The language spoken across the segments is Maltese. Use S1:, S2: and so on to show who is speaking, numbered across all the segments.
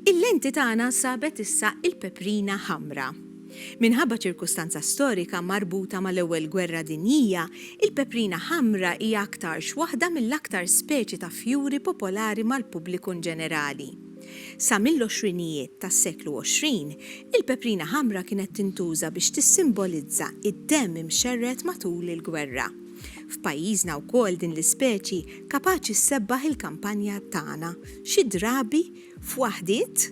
S1: Il-lenti tagħna sabet issa il-peprina ħamra. Minħabba ċirkustanza storika marbuta mal-Ewwel Gwerra Dinjija, il-peprina ħamra hija aktarx waħda mill-aktar speċi ta' fjuri popolari mal-pubbliku inġenerali. Sa mill-għoxrinijiet tas-seklu 20, il-peprina ħamra kienet tintuża biex tissimbolizza d-demm imxerred matul il-gwerra. F'pajjiżna wkoll din l-ispeċi kapaċi ssebbaħ il-kampanja tagħna, xi drabi f'waħdiet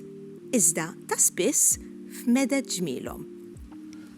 S1: iżda ta' spiss f'meded ġmielhom.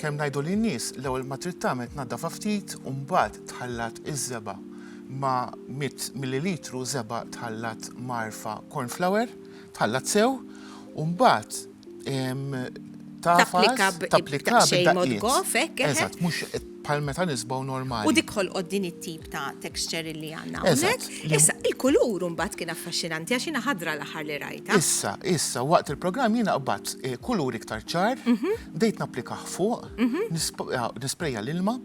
S2: Kemm ngħidu lin-nies, l-ewwel ma trid tagħmel tnaddafha ftit u mbagħad tħallat iż-żebgħa ma' mitt millilitru żebgħa tħallat mgħarrfa corn flour, tħallat sew u mbagħad tagħfas,
S1: tapplika b'daqqiet. Eżatt, mhux
S2: bħal meta nisbgħu normali. U dik ħolqot din
S1: it-tip. ta' texture li għanna. Eżatt. Issa,
S2: il-kulur
S1: mbagħad kien affaxxinanti għax jiena ħadra l-aħħar li rajta. Issa, issa, waqt
S2: il-programm jiena qbad eh, kulur iktar ċar, mhm. bdejt napplika fuq, mhm. eh, nisprejja l-ilma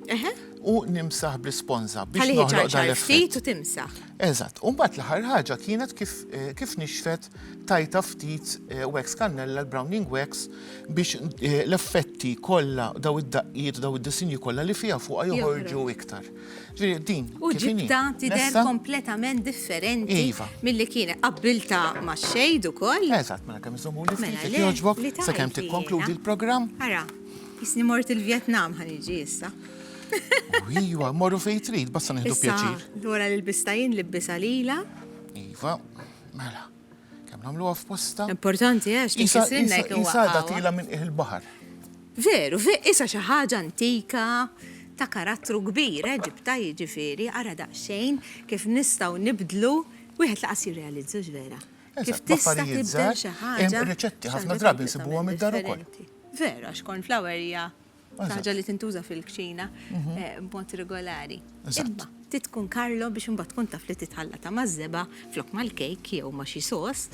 S2: u nimsaħ bl-isponza biex noħloq dan ftit
S1: u
S2: timsaħ.
S1: Eżatt, u mbagħad
S2: l-aħħar ħaġa kienet kif eh, kif nixfet tajta ftit wax kannella l-browning wax biex l-effetti kollha daw id-daqqiet daw id-disinji kollha li fiha fuqha joħorġu iktar. U ġibta
S1: tidher kompletament differenti iva. mill-li kienet. Qabbilta ma' xejd u koll. Eżat, mela kem zomu li
S2: mela ftit, joġbok, sa' kem tikkonkludi l-program. Ara,
S1: jisni mort il-Vietnam ħan iġi jissa.
S2: Iwa, morru fej trid, basta nħidu pjaċir. Dwar l-bistajin
S1: li bbisa lila. Iva,
S2: mela. Kemm nagħmluha f'postha. Importanti għax
S1: tinkisrinna jekk huwa. Isa da tila minn qiegħ
S2: il-baħar. Veru,
S1: veru, isa xi ħaġa antika ta' karattru kbir, Eġibta jiġifieri, ara daqsxejn kif nistgħu nibdlu wieħed laqas jirrealizza vera. Kif tista' tibdel xi ħaġa. Hemm riċetti ħafna
S2: drabi nsibuhom id-dar ukoll. Veru, għax
S1: cornflower hija Saġa li tintuża fil-kċina mhm. eh, b'mod regolari. Imma titkun Karlo biex imbagħad tkun taf li titħalla ta' mażżeba flok mal-kejk jew ma' xi sos.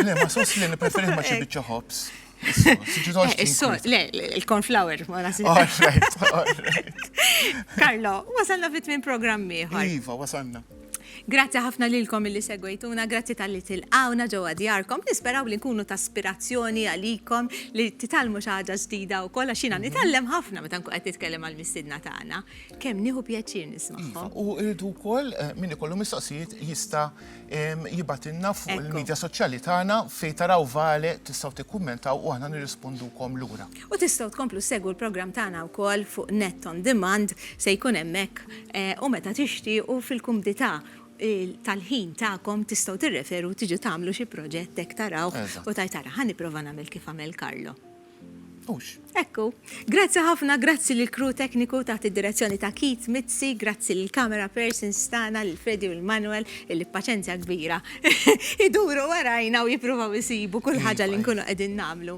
S2: Le, ma' sos li preferi ma' xi eh. biċċa ħobs. Eh,
S1: le, il-cornflower, ma nasib. Karlo, wasalna fit minn programmi. Iva, wasalna.
S2: Grazzi ħafna
S1: lilkom illi segwejtuna, grazzi tal-li tilqawna ġewwa djarkom. Nisperaw li nkunu ta' spirazzjoni għalikom li titalmu xi ħaġa ġdida wkoll għax jiena nitgħallem ħafna meta nkun qed nitkellem għal mistiedna tagħna. Kemm nieħu pjaċir nismagħhom. U rridu wkoll
S2: eh, min ikollu mistoqsijiet jista' jibatilna fuq il-medja soċjali tagħna fejn taraw vale tistgħu tikkummentaw u aħna nirrispondukom lura. U tistgħu tkomplu
S1: ssegwu l-programm tagħna wkoll fuq Net on Demand, se jkun hemmhekk u meta tixtiequ fil-kumdità tal-ħin tagħkom tistgħu tirreferu tiġu tagħmlu xi proġett hekk tarawh u tgħid ara ħa nipprova nagħmel kif għamel Carlo. Hux. Hekk hu. Grazzi ħafna, grazzi lill-crew tekniku taħt id-direzzjoni ta' Keith Mizzi, grazzi lill-camera persons tagħna lil Freddy u lil Manuel illi b'paċenzja kbira iduru warajna u jippruvaw isibu kull ħaġa li nkunu qegħdin nagħmlu.